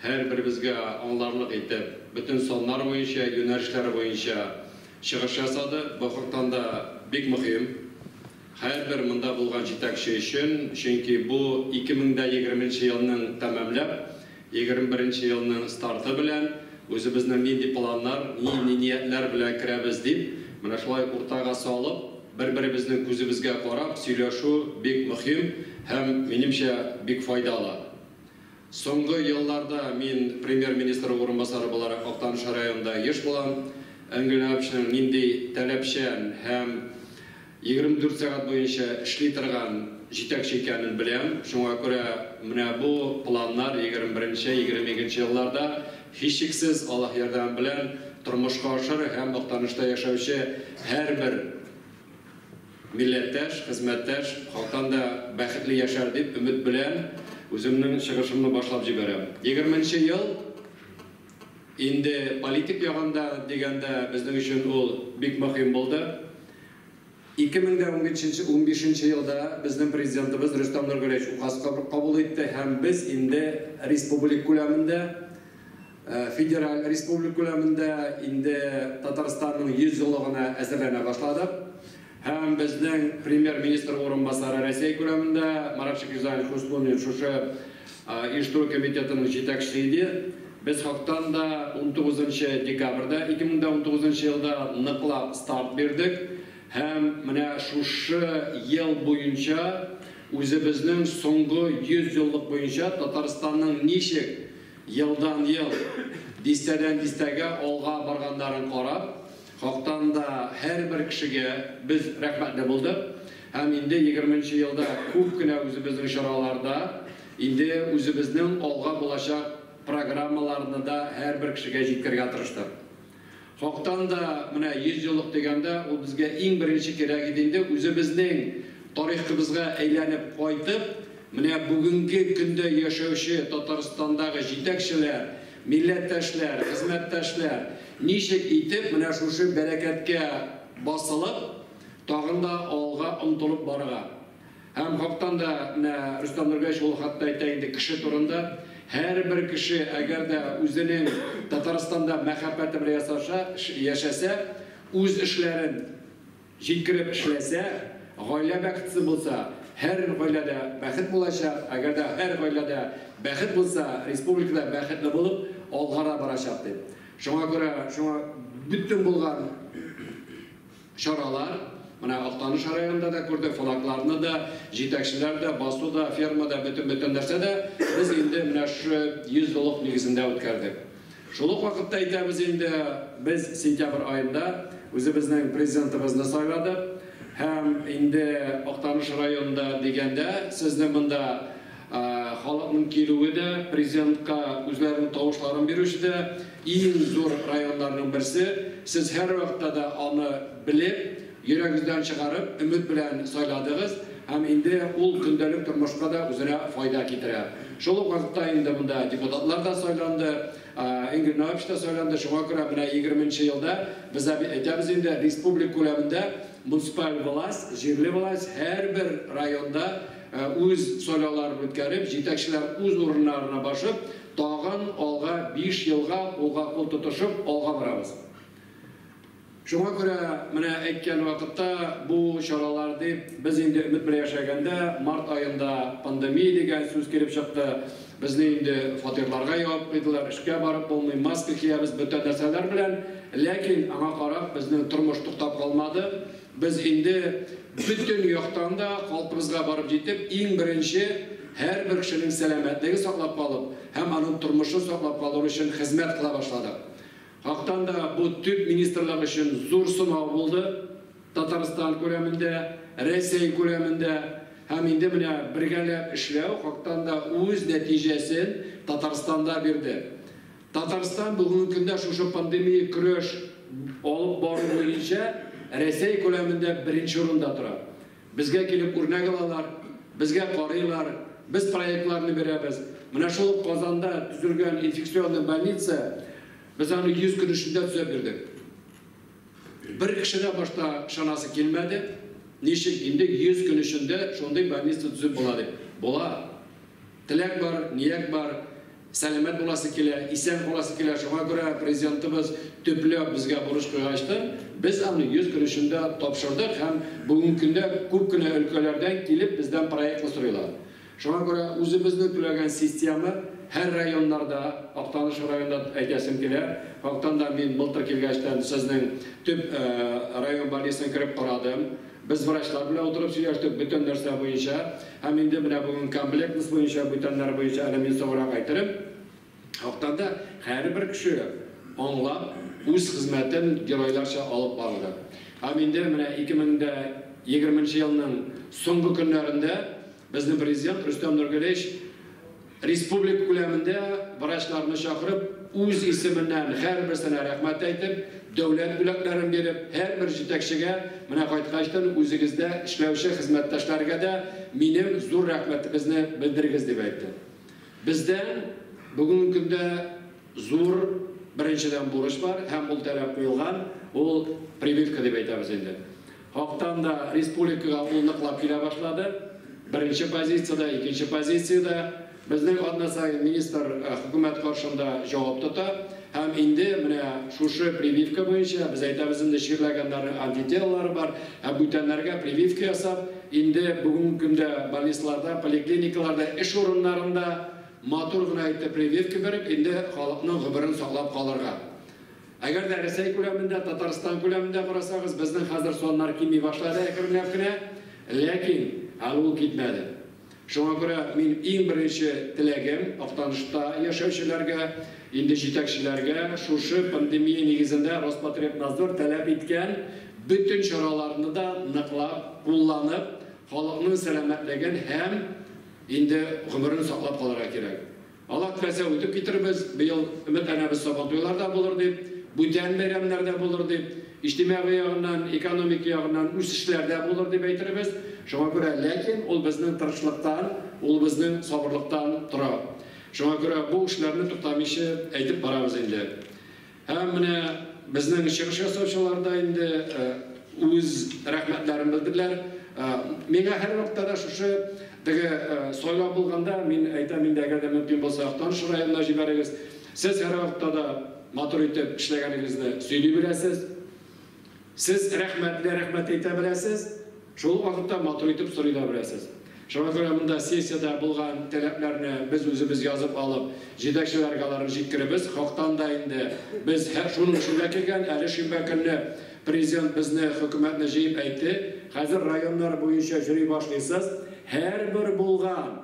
Һәрберебезгә аңларлык итеп, бөтен саннар буенча, юнәлешләре буенча чыгыш ясады. Бу хактан да бик мөһим һәрбер монда булган җитәкче өчен, чөнки бу 2020 нче елның тәмамлап, 21 нче елның старты белән үзебезнең нинди планнар, нинди ниятләр белән керәбез дип, менә шулай уртага салып, бер-беребезнең күзебезгә карап сөйләшү бик мөһим һәм, минемчә, бик файдалы. Соңгы елларда мин премьер-министр урынбасары буларак Актаныш районында еш булам. Әнгель Ләвовичның нинди таләпчән һәм 24 сәгать буенча эшли торган җитәкче икәнен беләм. Шуңа күрә менә бу планнар 21-22 елларда, һичшиксез, Аллаһ ярдәме белән тормышка ашыр һәм Актанышта яшәүче һәрбер Милләттәш, хезмәттәш хакан да бәхетле яшәр дип өмет белән үземнең чыгышымны башлап җибәрәм. Егерме нче ел инде политик ягын да дигәндә безнең өчен ул бик мөһим булды. Ике мең дә унбишенче елда безнең Президентыбыз Рөстәм Нургалиевич указ кабул итте һәм без инде республик күләмендә, Федераль республик күләмендә инде Татарстанның 100 еллыгына әзерләнә башладык. Һәм безнең премьер-министр урынбасары Россия күләмендә Маратшик Юзаев Хуснуллин шушы оештыру комитетының җитәкчесе иде. Без хактан да 19 декабрьдә 2019 елда ныклап старт бирдек һәм менә шушы ел буенча үзебезнең соңгы 100 еллык буенча Татарстанның ничек Елдан-ел, дистәдән-дистәгә алга барганнарын карап, хактан да һәрбер кешегә без рәхмәтле булдык һәм инде егерме нче елда күп кенә үзебезнең чараларда инде үзебезнең алга булачак программаларны да һәрбер кешегә җиткергә тырыштык. Хактан да, менә 100 еллык дигәндә, ул безгә иң беренче кирәк иде инде, үзебезнең тарихыбызга әйләнеп кайтып, менә бүгенге көндә яшәүче Татарстандагы җитәкчеләр, милләттәшләр, хезмәттәшләр ничек итеп менә шушы бәрәкәткә басылып, тагын да алга омтылып барырга. Һәм хактан да менә Рөстәм Нургәевич ул хакта әйтә инде, кеше турында. Һәрбер кеше, әгәр дә үзенең Татарстанда мәхәббәте белән ясаша, яшәсә, үз эшләрен җиткереп эшләсә, гаилә бәхетле булса, һәр гаиләдә бәхет булачак, әгәр дә һәр гаиләдә бәхет булса, республика да бәхетле булып алгара барачак, дип. Шуңа күрә, шуңа бөтен булган. Чаралар, менә Актаныш районында да күрдек, флагларны да, җитәкчеләр дә, басу да, ферма да, бөтен-бөтен нәрсә дә без инде менә шушы 100 еллык нигезендә үткәрдек. Шул ук вакытта әйтәбез инде, без сентябрь аенда үзебезнең Президентыбызны сайладык һәм инде Актаныш районында дигәндә сезне монда Халыкның килүе дә, президентка үзләренең тавышларын бирүче дә иң зур районнарның берсе. Сез һәрвакытта да аны белеп, йөрәгездән чыгарып, өмет белән сайладыгыз һәм инде ул көндәлек тормышка да үзенә файда китерә. Шул ук вакытта инде монда депутатлар да сайланды, Энгель Наович та сайланды. Шуңа күрә менә егерме нче елда без әйтәбез инде, республик күләмендә муниципаль власть, җирле власть һәрбер районда Үз сайлауларын үткәреп, җитәкчеләр үз урыннарына башып, тагын алга биш елга кулга-кул тотышып алга барабыз. Шуңа күрә менә әйткән вакытта бу чаралар дип, без инде өмет белән яшәгәндә, март аенда пандемия дигән сүз килеп чыкты, безне инде фатирларга ябып куйдылар, эшкә барып булмый, маска киябез, бөтен нәрсәләр белән, ләкин аңа карап безнең тормыш туктап калмады. Без инде бөтен яктан да калпыбызга барып җитеп, иң беренче һәрбер кешенең сәламәтлеген саклап калып һәм аның тормышын саклап калыр өчен хезмәт кыла башладык. Хактан да бу төп министрлык өчен зур сынау булды, Татарстан күләмендә, Рәсәй күләмендә һәм инде менә бергәләп эшләү хактан да үз нәтиҗәсен Татарстанда бирде. Татарстан бүгенге көндә шушы пандемия көрәш алып бару буенча Рәсәй күләмендә беренче урында тора. Безгә килеп үрнәк алалар, безгә карыйлар, без проектларны бирәбез. Менә шул ук Казанда төзелгән инфекционный больница, без аны 100 көн эчендә төзәп бирдек. Бер кеше дә башта ышанасы килмәде, ничек инде 100 көн эчендә шундый больница төзеп була дип. Була. Теләк бар, ният бар. Сәламәт буласы килә, исән каласы килә, шуңа күрә Президентыбыз төпләп безгә бурыч куйгачтын, без аны йөз көн эчендә тапшырдык һәм бүгенге көндә күп кенә өлкәләрдән килеп бездән проектны сорыйлар. Шуңа күрә үзебезнең түләгән система һәр районнарда, Актаныш районында әйтәсем килә, Актанда мин былтыр килгәчтән сезнең төп район больницына кереп карадым, Без врачлар белән утырып сөйләштек бөтен нәрсә буенча һәм инде менә бүген комплектность буенча бүтәннәр буенча әле мин соңрак әйтерем. Хактан да һәрбер кеше аңлап үз хезмәтен геройларча алып барды. Һәм инде менә 2020 нче елның соңгы көннәрендә безнең Президент Рөстәм Нургалиевич Республика күләмендә врачларны чакырып, үз исеменнән һәрберсенә рәхмәт әйтеп, дәүләт бүләкләрен биреп, һәрбер җитәкчегә, менә кайткачтын үзегездә эшләүче хезмәттәшләргә дә минем зур рәхмәтебезне белдерегез, дип әйтте. Бездән бүгенге көндә зур, беренчедән, бурыч бар һәм ул таләп куелган, ул прививка дип әйтәбез инде. Хактан да республикага ул ныклап килә башлады. Беренче позициядә, икенче позициядә. Безнең атна саен министр хөкүмәт каршында җавап тота. Һәм инде менә шушы прививка буенча, без әйтәбез инде, чирләгәннәрнең антителалары бар, ә бүтәннәргә прививка ясап, инде бүгенге көндә больницаларда, поликлиникаларда, эш урыннарында матур гына итеп прививка биреп, инде халыкның гомерен саклап калырга. Әгәр дә Рәсәй күләмендә, Татарстан күләмендә карасагыз, безнең хәзер саннар кими башлады әкренләп кенә, ләкин әле ул китмәде. Шуңа күрә мин иң беренче теләгем Актанышта яшәүчеләргә, инде җитәкчеләргә шушы пандемия нигезендә Роспотребнадзор таләп иткән бөтен чараларны да ныклап кулланып, халыкның сәламәтлеген һәм инде гомерен саклап калырга кирәк. Алар теләсә үтеп китербез, быел өметләнәбез Сабантуйлар да булыр дип, бүтән бәйрәмнәр дә булыр дип, иҗтимагый ягыннан, экономика ягыннан үсешләр дә булыр дип әйтербез. Шуңа күрә, ләкин ул безнең тырышлыктан, ул безнең сабырлыктан тора. Шуңа күрә бу эшләрне туктамыйча әйтеп барабыз инде. Һәм менә безнең чыгыш ясаучылар да инде үз рәхмәтләрен белдерләр. Миңа һәрвакытта да шушы теге сайлау булганда мин әйтәм инде, әгәр дә мөмкин булса Актаныш районына җибәрегез. Сез һәрвакытта да матур итеп эшләгәнегезне сөйли беләсез. Сез рәхмәтне рәхмәт әйтә беләсез, шул ук вакытта матур итеп сорый да беләсез. Шуңа күрә монда сессиядә булган таләпләрне без үзебез язып алып, җитәкчеләргә аларны җиткеребез. Хактан да инде без шуның өчен дә килгән, әле шимбә көнне Президент безне, хөкүмәтне җыеп әйтте, хәзер районнар буенча йөри башлыйсыз, һәрбер булган,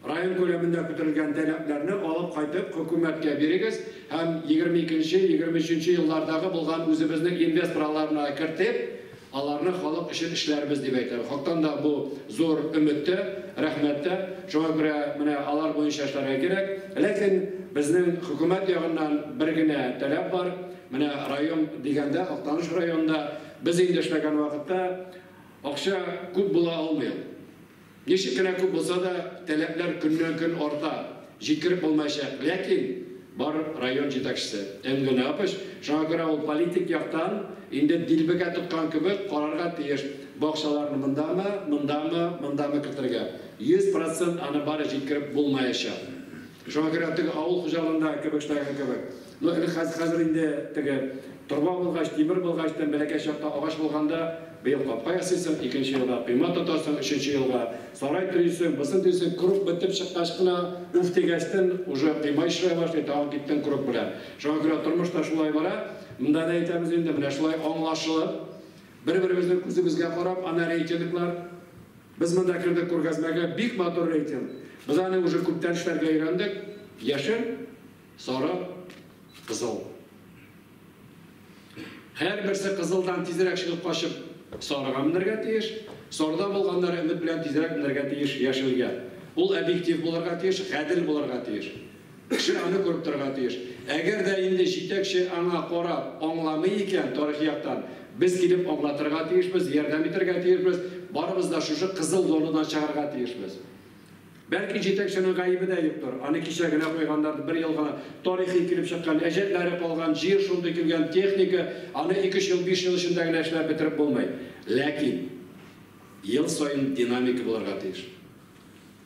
Район күләмендә бетерелгән таләпләрне алып кайтып хөкүмәткә бирегез һәм егерме икенче, егерме өченче еллардагы булган үзебезнең инвестор аларны кертеп, аларны халык өчен эшләрбез дип әйтә. Хактан да бу зур өмет тә, рәхмәт тә. Шуңа күрә менә алар буенча эшләргә кирәк. Ләкин безнең хөкүмәт ягыннан бер генә таләп бар, менә район дигәндә, Актаныш районында без инде эшләгән вакытта акча күп була алмый ул. Ничек кенә күп булса да, таләпләр көннән-көн арта, җиткереп булмаячак, ләкин бар район җитәкчесе, Энгель Габыч, шуңа күрә ул политик яктан инде дилбегә тоткан кебек карарга тиеш, бакчаларны мондамы, мондамы, мондамы кертергә. Йөз процент аны бары җиткереп булмаячак. Шуңа күрә теге авыл хуҗалыгында кебештәге кебек, ну элек хәз, хәзер инде теге торба булгач, тимер булгач, тем бәләкәй чакта агач булганда, быел капка ясыйсың, икенче елга койма тотасың, өченче елга сарай төйисең, бысын төйисең, круг бетеп чыккач кына, уф дигәчтен, уже койма ишрая башлый, тагын киттең круг белән. Шуңа күрә тормыш та шулай бара. Монда да әйтәбез инде, менә шулай аңлашылып, бер-беребезнең күзебезгә карап, аны рейкинглар, Без монда кердек күргәзмәгә, бик матур рейтинг. Без аны уже күптән эшләргә өйрәндек. Яшел, сары, кызыл. Һәрберсе кызылдан тизрәк чыгып качып сарыга менәргә тиеш. Сарыда булганнары өмет белән тизрәк менәргә тиеш яшелгә. Ул объектив булырга тиеш, гадел булырга тиеш. Кеше аны күреп торырга тиеш. Әгәр дә инде җитәкче аңа карап аңламый икән, тарихи яктан, без килеп аңлатырга тиешбез, ярдәм итәргә тиешбез, барыбыз да шушы кызыл зонадан чыгарга тиешбез. Бәлки җитәкченең гаебе дә юктыр, аны кичә генә куйганнардыр, бер ел гына тарихи килеп чыккан, әҗәтләре калган, җир шундый килгән, техника, аны ике-өч ел, биш ел эчендә генә эшләп бетереп булмый. Ләкин ел саен динамика булырга тиеш.